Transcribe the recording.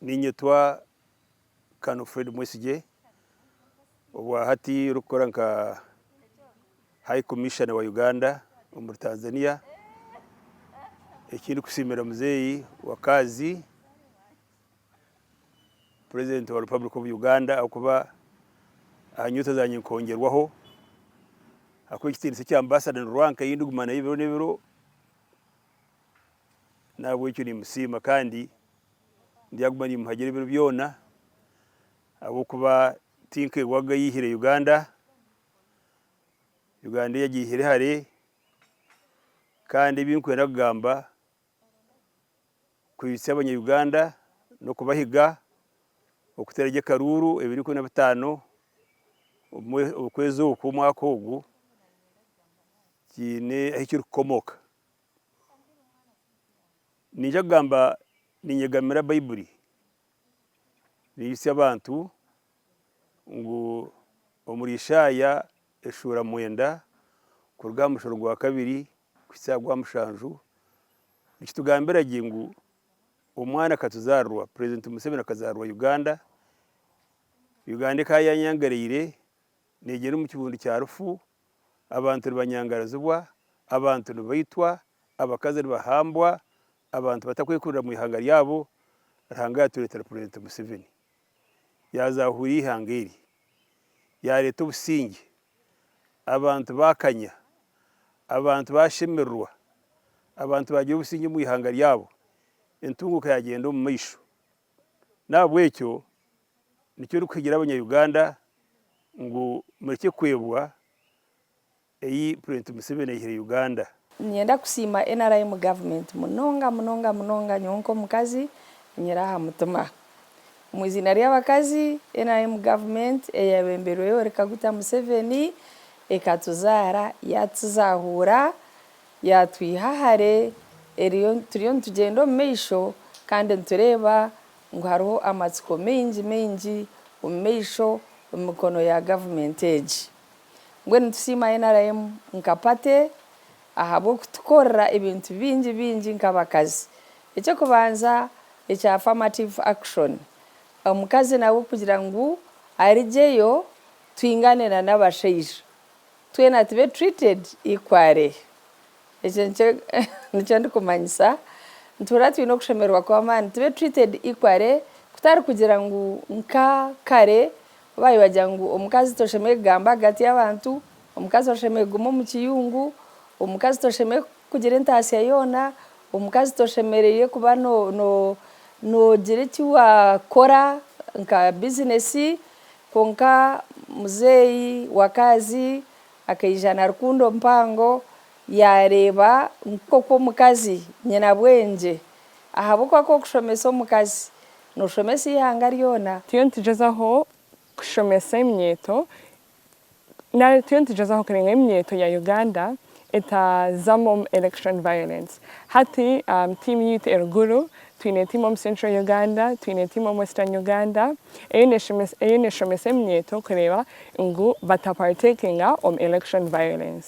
Niinyetwa Colonel Fred Mwesigye, obwa hati orikukora nka High Commissioner wa Uganda omuri Tanzania. Eki ndikusiimira muzeeyi wakaazi, President wa Republic of Uganda ahabw'okuba aha nyoota zangye nkongyerwaho, ahabw'ekitiinisa eki Ambassador Nirwanka ei ndiguma nayo ebiro n'ebiro. N'ahabw'ekyo nimusiima kandi ndyaguma nimuhagira ebiro byona, ahabw'okuba ti nka ewe wagaihire Uganda. Uganda eyi agiihire hare kandi ebi ndikwenda kugamba kwitsya Abanya-Uganda n'okubahiga okuteera gye akaruuru ebiro ikumi na bitaano omu kwezi oku omwaka ogu kiine ahu kirikukomoka. Niija kugamba ninyegamira Baiburi neyitsya abantu ngu omuri Ishaya eshuura mwenda kuruga aha musharo gwa kabiri kuhitsya aha gwa mushanju nikitugambira gye ngu omwana akatuzaarirwa purezidenti Museveni akazaarirwa Uganda, Uganda ekaba yanyangareire negyenda omu kibundu kya rufu. abantu nibanyangarazibwa, abantu nibaitwa, abakazi nibahambwa, abantu batakwekurira omu ihanga ryabo, Ruhanga yatureetera purezidenti Museveni yaaza huri y'eihanga eri, yaareeta obusingye, abantu baakanya, abantu baashemererwa, abantu baagira obusingye omu ihanga ryabo, entunguuka yaagyenda omu maisho. N'ahabw'ekyo Nikyo ndikuhigira abanya Uganda ngu murekye kwebwa eyi president Museveni ayihire Uganda. Ninyenda kusiima nrm government munonga munonga munonga nyowe nk'omukazi enyira aha mutima. Omu iziina ry'abakazi, nrm government eyabemberwe Yoweri Kaguta Museveni ekatuzaara, yatuzahuura, yatwiha hare, eriyo turiyo nitugyenda omu maisho kandi nitureeba. ngu hariho amatsiko maingi maingi omu maisho omu mikono ya gavumenti egi. Mbwenu nitusiima nrm nka pate ahabw'okutukorera ebintu bingi bingi nk'abakazi. Eky'okubanza ekya affirmative action, omukazi nawe kugira ngu arigyeyo twingane na n'abashaija, twena tube treated equally. Ekyo nikyo ndikumanyisa. Nituhurira twine okushemererwa kw'amaani, tube treated equally kutari kugira ngu nka kare ku baayobagira ngu omukazi toshemereire kugamba ahagati y'abantu, omukazi oshemereire kuguma omu kiyungu, omukazi toshemereire kugira entaatsya yoona, omukazi toshemereire kuba noogira eki waakora nka bizineesi. Kwonka muzeeyi wakaazi Akaija na rukundo mpango, yaareeba nk'oku omukazi nyina bwengye, ahabw'okuba ku orikushomesa omukazi, nooshomesa eihanga ryona. Turiyo nitugyezaho kushomesa eminyeeto, nari turiyo nitugyezaho kuringa eminyeeto ya Uganda etaazamu election violence. Hati tiimu yaitu eri Gulu Twine tiimu omu Central Uganda, twine tiimu omu Western Uganda eyo neeshomesa eminyeeto kureeba ngu batapartekinga omu election violence.